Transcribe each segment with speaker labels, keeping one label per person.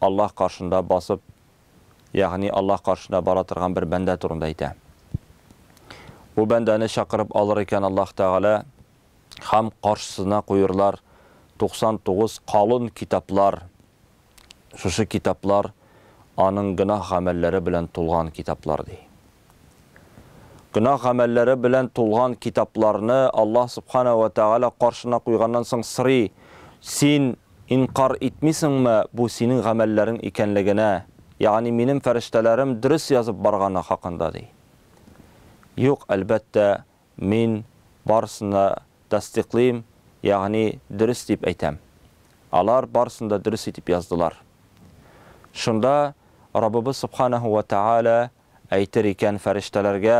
Speaker 1: Аллаһ каршында басып, ягъни Аллаһ каршына бара торган бер бәндә турында әйтә. Бу бәндәне чакырып алыр икән Аллаһ Тәгалә һәм каршысына куерлар 99 калын китаплар, шушы китаплар аның гөнаһ гамәлләре белән тулган китаплар, ди. Гөнаһ гамәлләре белән тулган китапларны Аллаһ Субхана вә Тәгалә каршына куйганнан соң сорый, Син инкарь итмисеңме бу синең гамәлләрең икәнлегенә, ягъни минем фәрештәләрем дөрес язып барганы хакында? ди. Юк, әлбәттә, мин барысын да тасдикълыйм, ягъни дөрес дип әйтәм. Алар барысын да дөрес итеп яздылар. Шунда Раббыбыз Субхана вә Тәгалә Әйтер икән, фәрештәләргә,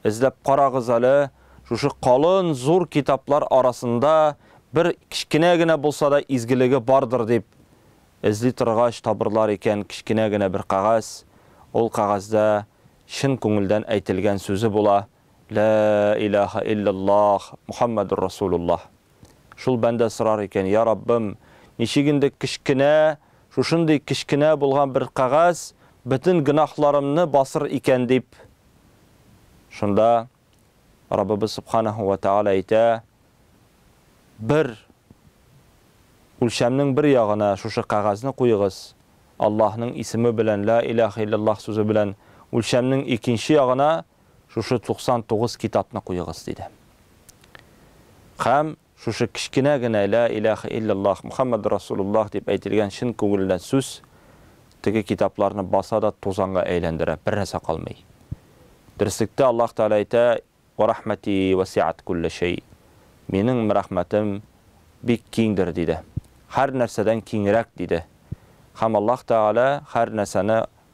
Speaker 1: Эзләп карагыз әле, шушы калын, зур китаплар арасында бер кечкенә генә булса да изгелеге бардыр дип, эзли торгач, табырлар икән, кечкенә генә бер кәгазь, ул кәгазьдә чын күңелдән әйтелгән сүзе була. Ләә иләәхә илләллаах Мухаммәдур Расулуллаһ. Шул бәндә сорар икән, Йа Раббым, ничек инде кечкенә, шушындый кечкенә булган бер кәгазь бөтен гөнаһларымны басыр икән дип. Шунда Раббыбыз Сөбханәһү вә Тәгалә әйтә, Бер үлчәмнең бер ягына шушы кәгазьне куегыз, Аллаһның исеме белән, Ләә иләәхә илләллаах сүзе белән, үлчәмнең икенче ягына шушы 99 китапны куегыз, диде. Һәм шушы кечкенә генә Лә иләһә илляллаһ Мухаммәдүр Расулуллаһ дип әйтелгән чын күңелдән сүз теге китапларны баса да тузанга әйләндерә, бернәрсә калмый. Дөреслектә Аллаһ Тәгалә әйтә, Вә рәхмәти вәсиәт куллә шәй. Минем рәхмәтем бик киңдер, диде. Һәр нәрсәдән киңрәк, диде. Һәм Аллаһ Тәгалә һәр нәрсәне